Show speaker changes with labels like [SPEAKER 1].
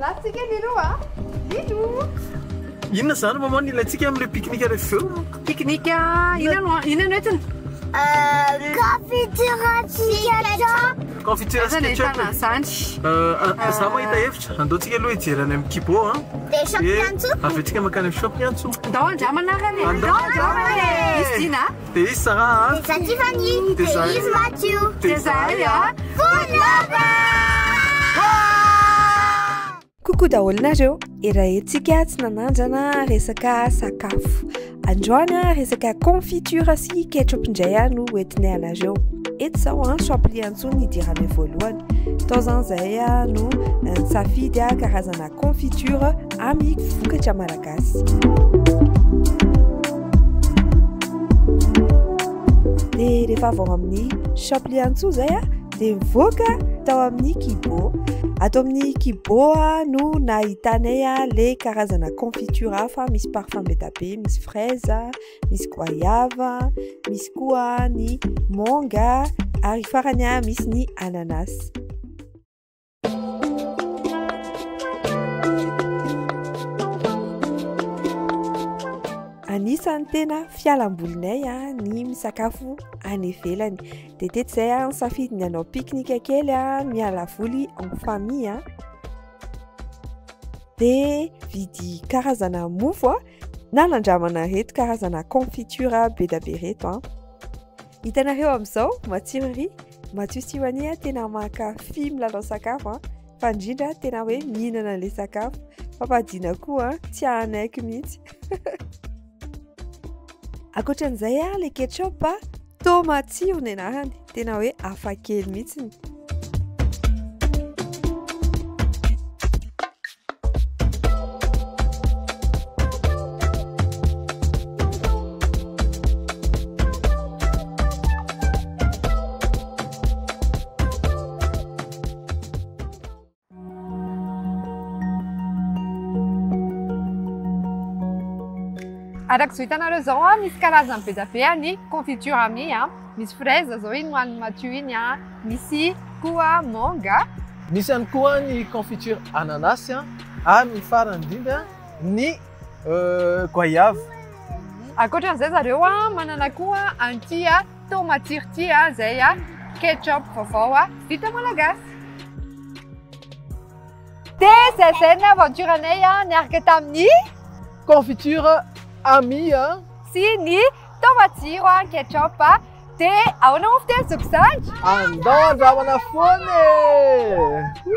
[SPEAKER 1] Latsika ny roa Inona
[SPEAKER 2] zany maman ny latsika amle pique-nique refa avy eo? Pique-nique
[SPEAKER 1] inona no inona no entiny? Euh, confiture
[SPEAKER 3] ketchup. Confiture ketchup.
[SPEAKER 2] Euh, za mahita hevitra, andaotsika aloha hijery any amin'ny kibo a. Dia shop Piantso.
[SPEAKER 3] Avy atsika makany amin'ny shop
[SPEAKER 2] Piantso. Ndao andramana
[SPEAKER 1] ary. Ndao andramana. Izy dina. Dia
[SPEAKER 3] izy Sara a. Dia
[SPEAKER 2] izahay Tiffany. Dia izy Matthew. Dia izahay
[SPEAKER 4] a. Good Lover! Coucou daholo nareo, erahintsika tsy nanandrana resaka sakafo. Androany a, resaka confiture sy ketchup indray a no hoentinay anareo. Eto zao a, champli antso ny hidiranay voalohany. Tao zany zay a no nisafidy a karazana confiture amin'ny vokatra malagasy. Malagasy. dia rehefa avy ao amin'ny shop liantsoa izay a dia mivoaka tao amin'ny kibo ato amin'ny kibo a no nahitanay a le karazana confiture hafa misy parfum be da be misy fraise misy goyave misy koa ny manga ary farany a misy ny ananas Anisan'ny tena fialambolinay a ah, ny misakafo any ivelany. Dia tety izay a ah, nisafidy ny hanao pique-nique kely a ah, miala voly en famille a. Dia vidy karazana mofo a na nandramana reto karazana confiture be dia be reto a. Hitanareo amin'izao, matsiro ery. Matio sy Yohanie ah, tena mankafy milalao sakafo an. Ah. Fa indrindra ah, tena hoe mihinana an'ilay sakafo. Papadina koa an, tsy hahanaiky mihitsy. Ankoatran'izay ah, le ketchup ah, to matsiro ny anarany. Tena hoe afakely mihitsy.
[SPEAKER 1] Araka izao hitanareo izao a, misy karazany be dia be ny confiture amis a. Misy fraise izao iny ho an'i Mathieu iny a. Misy koa manga. Misy ihany koa
[SPEAKER 2] ny confiture ananasy ary ny farany indrindra ny goyave.
[SPEAKER 1] Ankoatran'izay zareo manana koa an'ity tomatsiro ity izay ketchup vaovao vita malagasy. Dia zay zay ny aventure-nay niaraka tamin'ny. Confiture
[SPEAKER 2] Amie. Sy ny
[SPEAKER 1] Tao matsiro an ketchup a. De ahoana moa fiteny zoky zandry? Andao
[SPEAKER 2] andramana foana e!